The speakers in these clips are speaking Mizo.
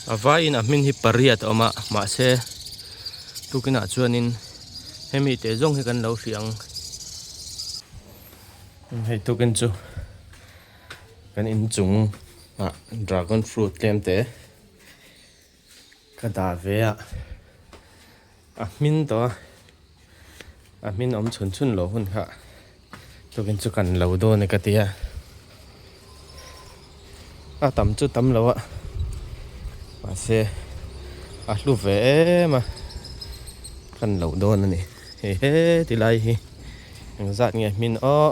A vaiin a hmin hi pariat a awm a, mahse tukinah chuanin hemi te zawng hi kan lo hria ang. Hei tukin chu kan inchungah dragon fruit tlem te ka dah ve a. A hmin tawh a, a hmin awm chhun chhun lo hun kha tukin chu kan lo dawn e ka ti a. A tam chu tam lo a, mahse a hlu ve em a kan lo dawn a ni. Hei he ti lai hi engzat nge hmin aw.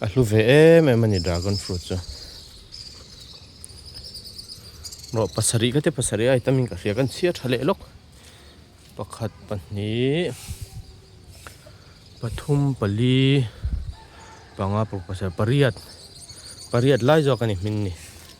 A hlu ve em em a ni dragon fruit chu. Rawh pasarih ka ti pasarih a itamin ka hria ka in chhiar tha leh lawk. Pakhat pahnih pathum pali panga pasarih pariat pariat lai zawk a ni hming ni.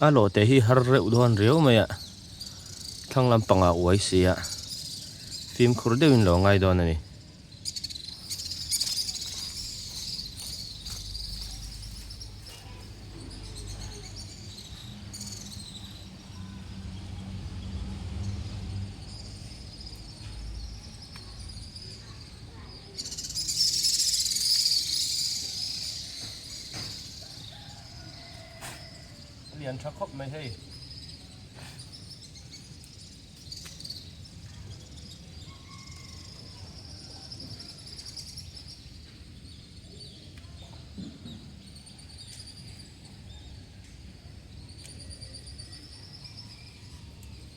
A lawte hi har reuh dawn riau mai a, thlang lampangah uai si a, fimkhur deuhin lo ngai dawn a ni. a lian tha khawp mai hei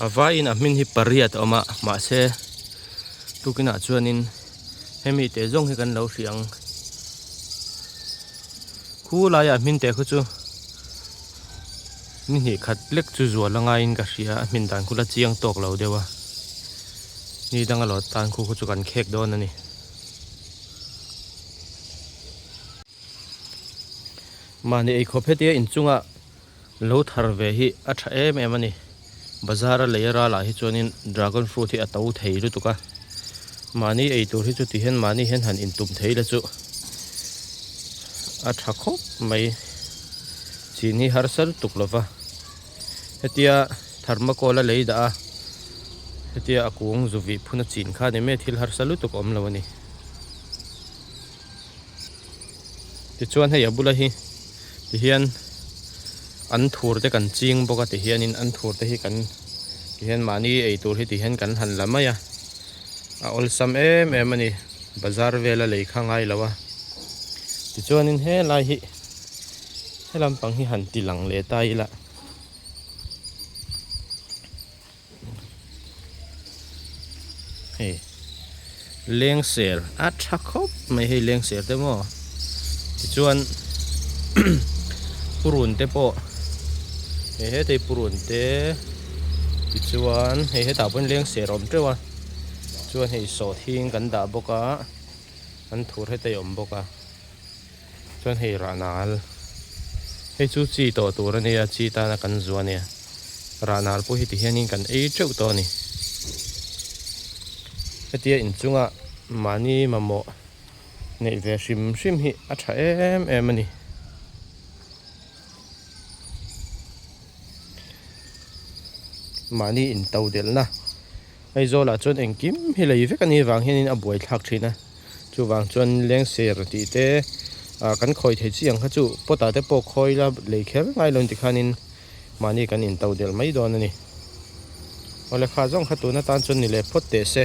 a vai in a hmin hi pariat a awm a mahse tukin ah chuan in hemi te zawng hi kan lo hriang khu lai ah hmin te khu chu-- Ni hnih khat lek chu zual angaiin ka hria, a hmin dan khula chiang tawk lo deuh a, ni danga lawt tan khu khaw chu kan khek dawn a ni. Mahni eikhawp hetia inchungah lo thar ve hi a tha em em a ni. Bazar a lei a ra lah hi chuanin Dragon Fruit hi a to thei lutuk a. Mahni ei tur hi chu tihian mahni hian han in tum thei la chu. A tha khawp mai. Chin hi har ser tuk lo va. Hetia Thermocol a lei dah a. Hetia a kung zuvih phun a chin kha a ni mai. Thil har sa lutuk awm lo a ni. Tichuan hei a bula hi ti hian an thur te kan ching bawk a ti hian in an thur te hi kan ti hian mahni ei tur hi ti hian kan han la mai a a awlsam em em a ni bazar vela lei kha ngai lo a tichuan in he lai hi he lampang hi han ti lang leh ta ila. Hei leng ser a tha khawp mai hei leng ser te maw tichuan purun te pawh hei hetei purun te tichuan hei hetah pawhin leng ser a awm teuh a chuan hei sawhthing kan dah bawk a an thur hetei awm bawk a. Chuan hei Rahnal hei chu chi tawh tur a nia, chi tana kan zuah a nia. Rahnal pawh heti hianin kan ei teuh tawh a ni. Hetia in chunga mahni mamawh neih ve hrim hrim hi a tha em em a ni. Mahni in to delhna Aizawlah chuan engkim hi lei vek a nih vang hianin a buaithlak thin a. Chuvang chuan leng ser tih te kan khawi thei chiang kha chu pot ah te pawh khawi la lei kher ngai lo ti khan in mahni kan in to del mai dawn a ni. Aw le kha zawng kha tun atan chuan ni leh phawt teh se.